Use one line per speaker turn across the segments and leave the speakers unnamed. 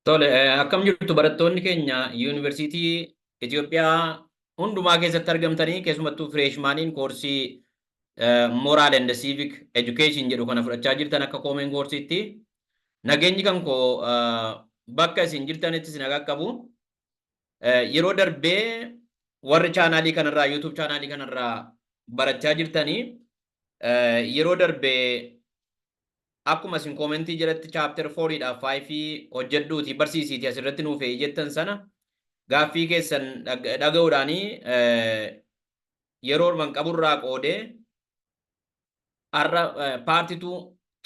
Tole, akkam jirtu barattoonni keenya yuunivarsiitii Itoophiyaa hundumaa keessatti argamtanii keessumattuu fireeshmaaniin koorsii Moral and Civic Education jedhu kana fudhachaa jirtan akka koomeen koorsiitti nageenyi kan koo bakka isin jirtanitti isin qaqqabu. Yeroo darbee warri chaanaalii kanarraa YouTube chaanaalii kanarraa barachaa jirtanii yeroo darbee akkuma isin koomentii jalatti chaapter 4 dha 5 hojjedhuuti barsiisiiti asirratti nuuf eeyi jettan sana gaaffii keessan dhaga'uudhaanii yeroo orman qaburraa qoodee Har'a paarti tuu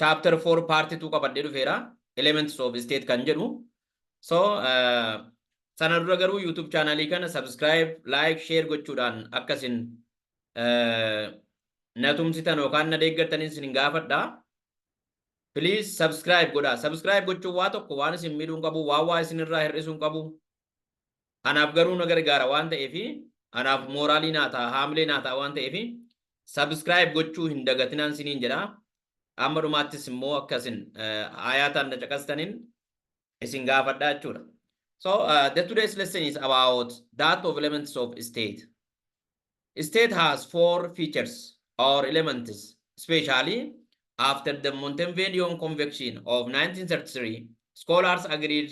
chapter 4 paarti tuu qabadhee dhufeera elements of state kan jedhu so sana dura garuu youtube chaanaalii kana subscribe like share gochuudhaan akkasin na tumsitan yookaan na deeggartaniin sin gaafadha. Please subscribe godha. Subscribe gochuun waa tokko waan isin miidhuun qabu waan waa isinirraa hir'isuun qabu Anaaf garuu na gargaara waan ta'eef anaaf mooraalii naa ta'a haamilee naa ta'a waan ta'eef subscribe gochuu hin dagatinaan siniin jedha. Amma dhumaattis immoo akka isin ayaataan na caqastaniin isin gaafadha jechuudha. So uh, the today's lesson is about that of elements of state. State has four features or elements, especially after the Montevideo Convention of 1933, scholars agreed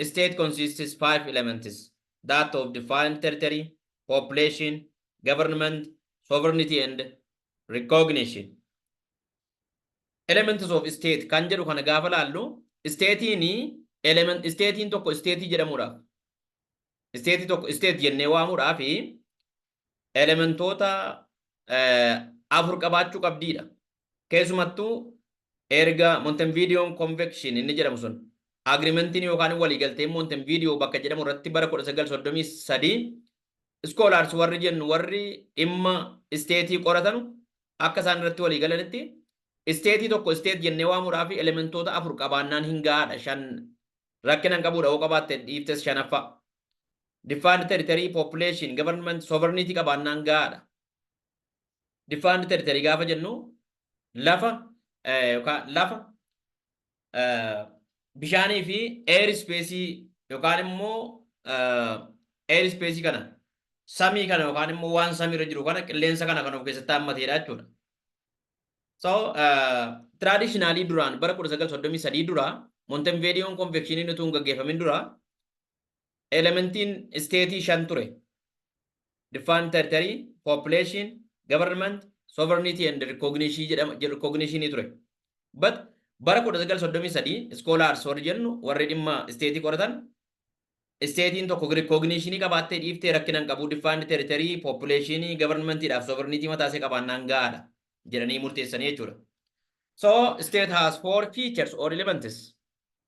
state consists five elements, that of defined territory, population, government, sovereignty and recognition. Elements of state kan jedhu kana gaafa laallu isteetiin element isteetiin tokko isteetii jedhamuudhaaf isteetii tokko isteet jennee waamuudhaaf elementoota afur qabaachuu qabdiidha. Keessumattuu erga Montevideon Convention inni jedhamu sun agrimentiin yookaan waliigalteen Montevideo bakka jedhamu irratti bara 1933 iskoolaars warri jennu warri dhimma isteetii qoratanu akka isaan irratti walii galanitti isteetii tokko isteet jennee waamuudhaa fi elementoota afur qabaannaan hin gahaadha shan rakkina hin qabuudha yoo qabaatte dhiiftes shanaffaa Defined territory, population, government, sovereignty qabaannaan gahaadha. Defined territory gaafa jennu lafa eh, yookaan lafa eh, bishaanii fi air space yookaan immoo eh, air space kana samii kana yookaan immoo waan samii irra jiru kana qilleensa kana kan of keessatti hammateedha jechuudha. So, uh, traditionally duraan bara 1933 dura Montevideo Convection utuu hin gaggeeffamin dura elementiin isteetii shan ture. Defined territory, population, government, sovereignty and recognition jedhama recognition ture. But bara 1933 scholars warri jennu warri dhimma isteetii qoratan isteetiin tokko recognition qabaattee dhiiftee rakkina hin qabu defined territory, population, government dhaaf sovereignty mataa isee qabaannaan gahaadha jedhanii murteessanii jechuudha. So state has four features or elements.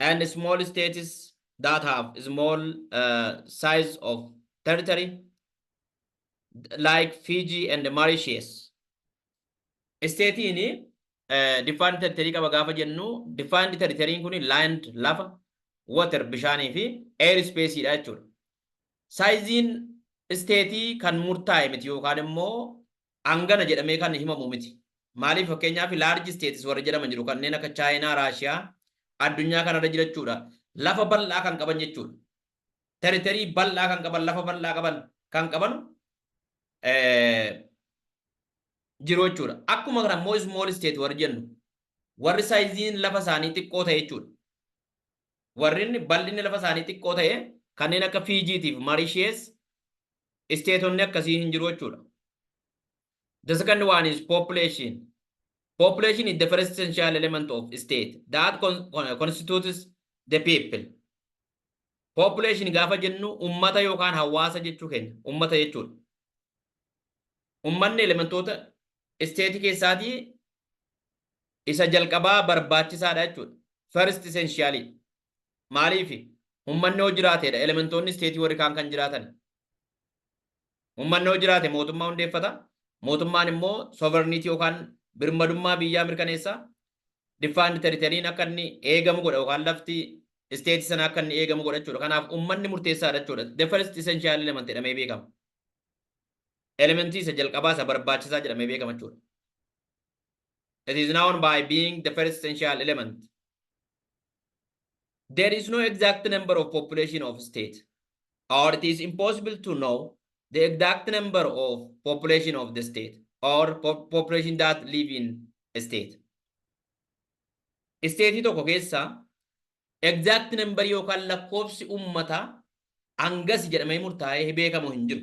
and small states that have small uh, size of territory like Fiji and Mauritius. Isteetiin uh, defined territory qaba gaafa jennu defined territory kun land lafa water bishaanii fi air space dha jechuudha. Saayiziin isteetii kan murtaa'e miti yookaan immoo hangana jedhamee kan himamu miti. Maaliif fakkeenyaaf large states warri jedhaman jiru kanneen akka Chaayinaa, Raashiyaa addunyaa kanarra jirachuudha lafa bal'aa kan qaban jechuudha. Territory bal'aa kan qaban lafa bal'aa qaban kan qaban jiru jechuudha. Akkuma kana immoo small state warri jennu warri saayiziin lafa isaanii xiqqoo ta'e jechuudha. Warri bal'inni lafa isaanii xiqqoo ta'e kanneen akka Fiijiitiif Marishees isteetonni akkasii hin jiru jechuudha. The second one is population. Population is the first essential element of state that con constitutes the people. Population gaafa jennu ummata yookaan hawaasa jechuu keenya ummata jechuudha. Ummanni elementoota isteetii keessaatii isa jalqabaa barbaachisaadha jechuudha. First essential. Maaliifi? Ummanni yoo jiraateedha elementoonni isteetii warri kaan kan jiraatani. Ummanni yoo jiraate mootummaa hundeeffata. Mootummaan immoo sovereignty yookaan birmadummaa biyyaa mirkaneessa. Defined territory'n akka inni eegamu godha yookaan lafti isteetii sana akka inni eegamu godha jechuudha. Kanaaf ummanni murteessaadha jechuudha. The first essential element jedhamee beekama. Elementii isa jalqabaa isa barbaachisaa jedhamee beekama jechuudha. It is known by being the first essential element. There is no exact number of population of state, or it is impossible to know the exact number of population of the state or po population that live in a state. Isteetii tokko keessa exact number yookaan lakkoofsi uummataa hangasi jedhamee murtaa'ee beekamu hin jiru.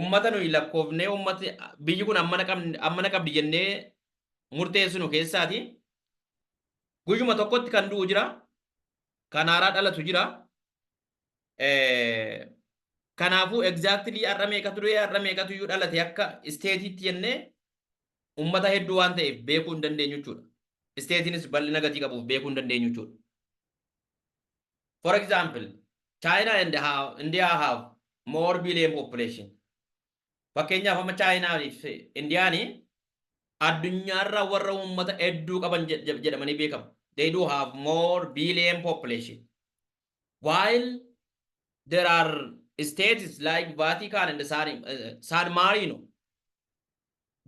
ummata nuyi lakkoofnee ummati biyyi kun ammana qabn- ammana qabdi jennee murteessinu keessaati guyyuma tokkotti kan du'u jira kan haaraa dhalatu jira Eh, kanaafuu egzaaktilii har'a meeqatu du'e har'a meeqatu iyyuu dhalate akka isteetiitti jennee ummata hedduu waan ta'eef beekuu hin dandeenyu jechuudha isteetiinis bal'ina gatii qabuuf beekuu hin dandeenyu jechuudha for example China and how India have more billion population fakkeenyaaf amma China fi Indian addunyaarra warra uummata hedduu qaban jed- jed- jedhamanii beekamu they do have more billion population while there are states like Vatican and San, uh, San Marino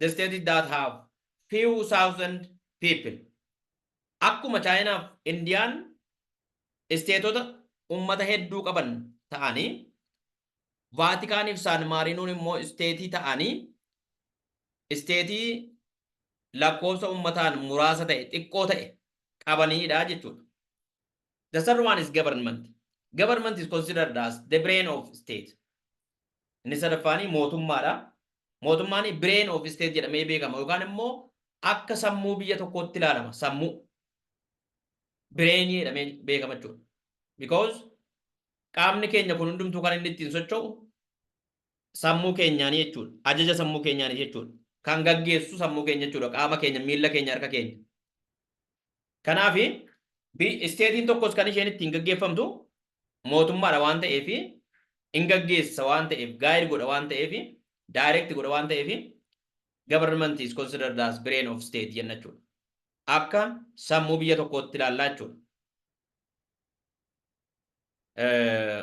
the states that have few thousand people Akkuma Chaayinaaf Indiyaan isteetota ummata hedduu qaban ta'anii, Vaatikaaniif Saan Maariinoon immoo isteetii ta'anii, isteetii lakkoofsa ummataan muraasa ta'e, xiqqoo ta'e, qabaniidha jechuudha. The third one is government. Government is considered as the brain of state. Inni sadaffaanii mootummaadha. Mootummaan brain of state jedhamee beekama yookaan immoo akka sammuu biyya tokkootti ilaalama. Sammuu brain jedhamee beekama jechuudha. Because qaamni keenya kun hundumtuu kan inni ittiin socho'u sammuu keenyaanii jechuudha. Ajaja sammuu keenyaanii jechuudha. Kan gaggeessu sammuu keenya jechuudha. Qaama keenya, miila keenya, harka keenya. Kanaaf isteetiin tokkos kan isheen ittiin gaggeeffamtu mootummaadha waan ta'eef in gaggeessa waan ta'eef guide godha waan ta'eef direct godha waan ta'eef government is considered as brain of state jenna jechuudha. Akka sammuu biyya tokkootti ilaallaa jechuudha. Eh,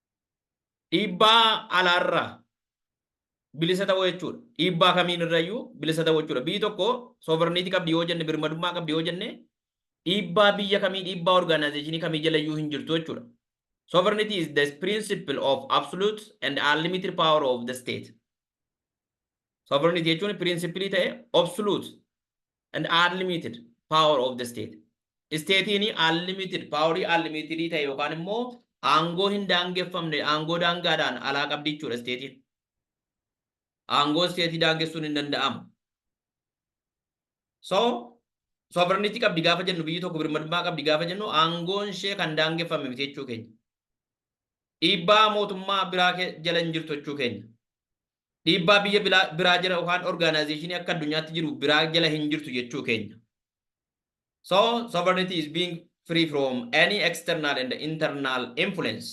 Dhiibbaa alaarraa bilisa ta'uu jechuudha. Dhiibbaa kamiin irrayyuu bilisa ta'uu jechuudha. Biyyi tokko sovereignty qabdi yoo jenne birmadummaa qabdi yoo jenne dhiibbaa biyya kamii dhiibbaa organizationii kamii jalayyuu hin jirtu jechuudha. Sovereignty is the principle of absolute and unlimited power of the state. Sovereignty jechuun principle ta'e absolute and unlimited power of the state. Isteetiin unlimited paaworii unlimitedii ta'e yookaan immoo aangoo hin daangeffamne aangoo daangaadhaan alaa qabdi jechuudha isteetiin. Aangoo isteetii daangessuun hin danda'amu. So sovereignty qabdi gaafa jennu biyyi tokko birmadummaa qabdi gaafa jennu aangoon ishee kan daangeffame miti jechuu keenya. Dhiibbaa mootummaa biraa jala hin jirtu jechuu keenya. Dhiibbaa biyya bilaa, biraa jala yookaan organization akka addunyaatti jiru biraa jala hin jirtu jechuu keenya. So, sovereignty is being free from any external and internal influence.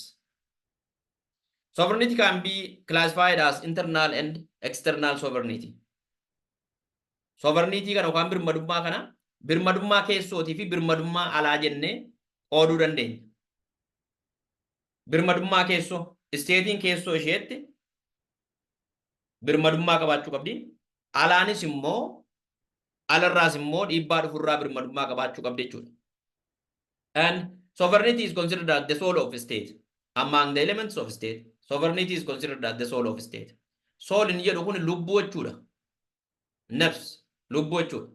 Sovereignty can be classified as internal and external sovereignty. Sovereignty kana yookaan birmadummaa kana birmadummaa keessootii fi birmadummaa alaa jennee qooduu dandeenya. Birmadummaa keessoo, isteetiin keessoo isheetti birmadummaa qabaachuu qabdi. Alaanis immoo alarraas immoo dhiibbaa dhufurraa birmadummaa qabaachuu qabdi jechuudha. And sovereignty is considered as the soul of state among the elements of state. Sovereignty is considered as the soul of state. Soul inni jedhu kun lubbuu jechuudha. Nafs lubbuu jechuudha.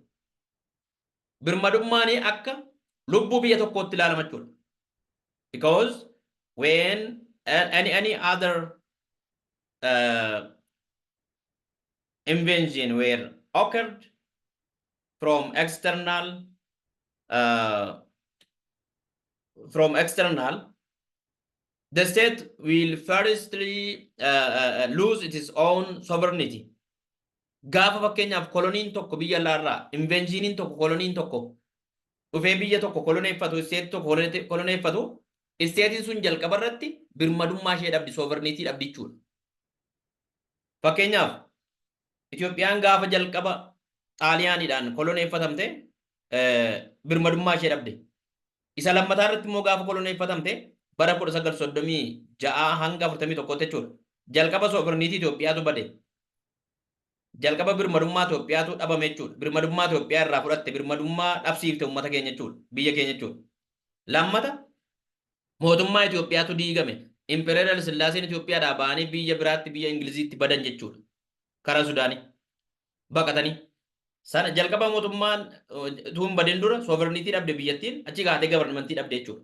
birmadummaani akka lubbuu biyya tokkootti ilaalama jechuudha. Because when uh, any any other uh, invention were occurred from external uh, from external the state will firstly uh, uh, lose its own sovereignty Gaafa fakkeenyaaf koloniin tokko biyya alaa irraa inveenziiniin tokko koloniin tokko dhufee biyya tokko koloneeffatu isteetii tokko kolone- koloneeffatu isteetiin sun jalqaba irratti birmadummaa ishee dhabdi sooverniitii dhabdi jechuudha. Fakkeenyaaf Itoophiyaan gaafa jalqaba xaaliyaaniidhaan koloneeffatamte eh, birmadummaa ishee dhabde. Isa lammataa irratti immoo gaafa koloneeffatamte bara 1936 hanga 41 jechuudha. Jalqaba sooverniitii Itoophiyaatu bade. Jalqaba birmadummaa Itoophiyaatu dhabame jechuudha. Birmadummaa Itoophiyaa irraa fudhatte, birmadummaa dhabsiifte uummata keenya jechuudha. Biyya keenya jechuudha. Lammata mootummaa Itoophiyaatu diigame. Impereer Hayila Sillaaseen Itoophiyaadhaa ba'anii biyya biraatti biyya Ingiliziitti badan jechuudha. Karaa Sudaanii baqatanii. Sana jalqaba mootummaan tuun badin dura sooverniitii dhabde biyyattiin achi kaatee gabarnimantii dhabde jechuudha.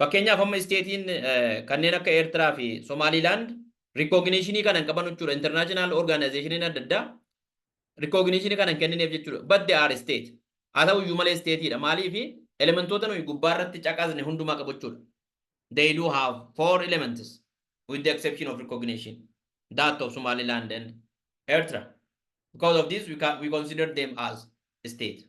Fakkeenyaaf amma isteetiin kanneen akka Eertiraa fi Somaaliilaand rikooginishinii kana hin qaban jechuudha. Intarnaashinaal orgaanaayzeeshiniin adda addaa rikooginishinii kana hin kennineef jechuudha. But they are state. Haa ta'u iyyuu malee isteetiidha. Maaliif elementoota nuyi gubbaa irratti caqasne hundumaa qabu jechuudha. They do have four elements with the exception of recognition that of Somaliland and Ertra. Because of this we, can, we consider them as state.